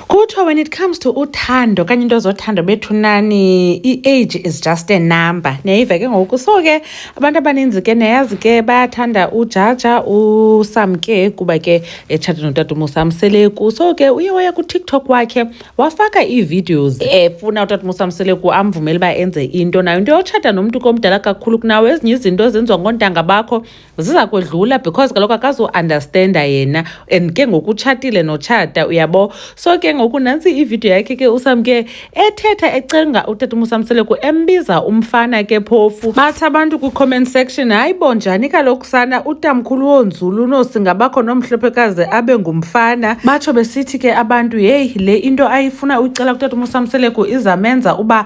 kuthiwa when it comes to uthando kanye into zothando bethu nani i-age is just a number niyayiva ke ngoku so ke abantu abaninzi ke niyayazi ke bayathanda ujaja usamke kuba ke etshate notata umusa mseleku so ke uye waya kutiktok wakhe wafaka ii-videos efuna utata umusa mseleku amvumele uba enze into nayo into yotshata nomntu komdala kakhulu kunawo ezinye izinto ezenziwa ngontanga bakho ziza kwedlula because kaloku akazuunderstanda yena and ke ngoku utshatile notshata uyabo so ke ngoku nantsi ividiyo yakhe ke usam ke ethetha ecenga utata umusamseleku embiza umfana ke phofu bathi abantu kwi-comment section hayi bo njani kaloku sana utamkhulu wonzulu unosingabakho nomhlophekazi abe ngumfana batsho besithi ke abantu yeyi le into ayifuna uyicela kutata umusamseleku izamenza uba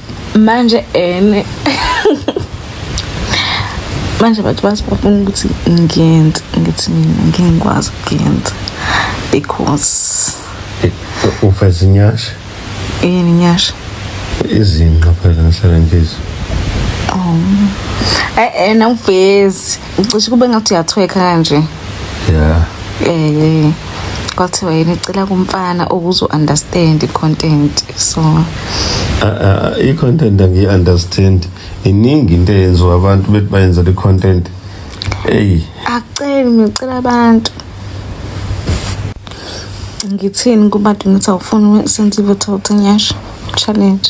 manje ene manje abantu basibafuna ukuthi ngiyenze ngithi mina ngingikwazi ukuyenza because ufeza inyasha yini inyasha izinqa phela ngihlale ngizwe oh eh nawuvezi ucishe kube ngathi uyathweka kanje yeah eh kwathiwa yini icela kumfana ukuze u-understand i-content so i-content angiyi-understand iningi into eyenziwa abantu bethi bayenzela i-content eyi akuceli ngicela abantu ngithini kubantu ngithi awufuni senze i-vototing yasho challenge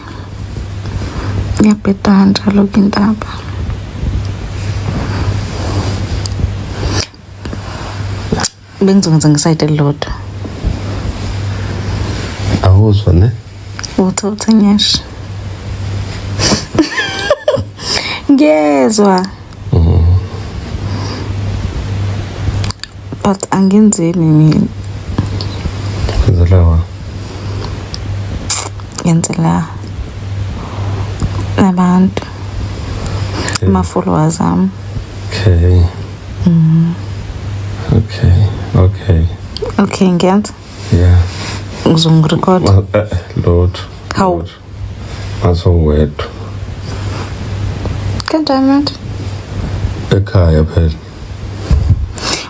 ngiyabheda kanjalo ke intaba bengizokwenza ngesayide elilodwa awuzwa ne uthi uthi ngiyasho ngiyezwa but angenzeni mina ngenzelawa ngenzela abantu okay. ama-followers ami okay mm. okay okay okay ngiyenza yeah ngizongirecord eh, eh, lotho hawu asowedwa kanjani manje ekhaya phela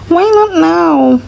why not now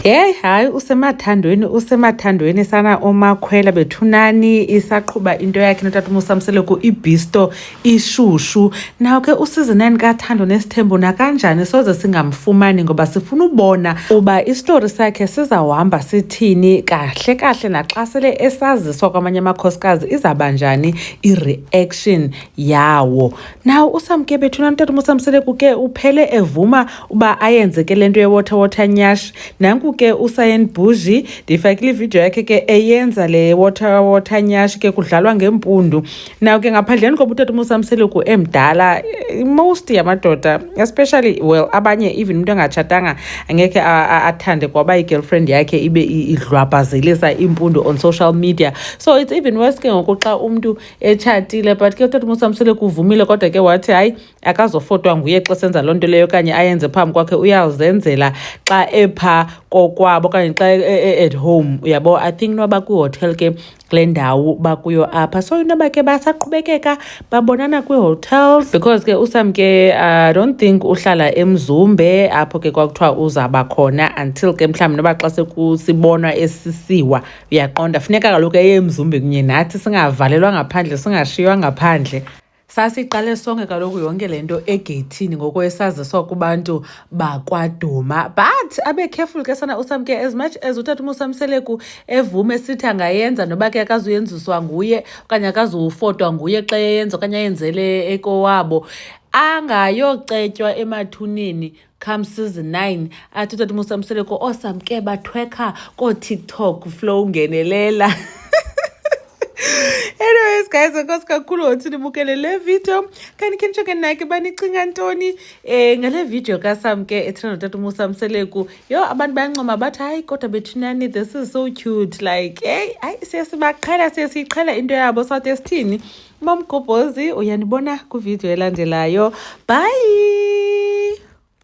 Hey hayi usemathandweni usemathandweni sana omakhwela bethunani isaqhuba into yakhe notata umusamsele ku ibisto ishushu nawo ke uSizinani kaThando nesithembu nakanjani soze singamfumani ngoba sifuna ubona uba isitori sakhe sizawuhamba sithini kahle kahle naxa sele esaziswa kwamanye amakhosikazi izaba njani i-reaction yawo nawo usamke bethuna mtata umusamsele kuke uphele evuma uba ayenzeke le nto yewater water nyash nanku ke usayen bhuji ndiyifakile ividiyo yakhe ke eyenza le water water nyash ke kudlalwa ngempundu now ke ngaphandleni koba utata umusamseluku emdala most yamadoda especially well abanye even umuntu engatshatanga angekhe athande kwaba i-girlfriend yakhe ibe idlwabhazelisa impundu on social media so it's even worse ke ngoku xa umntu etshatile but ke utata umusamseluku uvumile kodwa ke wathi hayi akazofotwa nguye xa senza loo nto leyo okanye ayenze phambi kwakhe uyazenzela xa epha kokwabo okanye xa e, e, e, at home uyabo i think noba kwihotel ke kule ndawo bakuyo apha so into bakhe basaqhubekeka babonana kwii-hotels because ke usam ke i don't think uhlala emzumbe apho ke kwakuthiwa uzaba khona until ke mhlawumbi noba xa sekusibonwa esisiwa uyaqonda funeka kaloku eye emzumbe kunye nathi singavalelwa ngaphandle singashiywa ngaphandle Sasiqale sonke kaloku yonke le nto egeyithini ngoko esaziswa kubantu bakwaduma but abe careful ke sana usamke as much as utata umusamseleku evume sithi angayenza noba ke akazuyenziswa nguye okanye akazuwufotwa nguye xa eyenza okanye ayenzele ekowabo angayocetywa emathuneni come season 9 athi utata musa mseleko osamke oh, bathwekha kootiktok flow ngenelela anyways guys enkosi kakhulu ngothi nibukele le video kanti khe nitsho ke nake banicinga ntoni um eh, ngale video kasam ke ethanda notata umusa mseleku yho abantu bayancoma bathi hayi kodwa bethinani this is so cute like eyi hayi siye sibaqhela siye siyiqhela into yabo sathi esithini umamgobhozi uyanibona kwividiyo elandelayo bye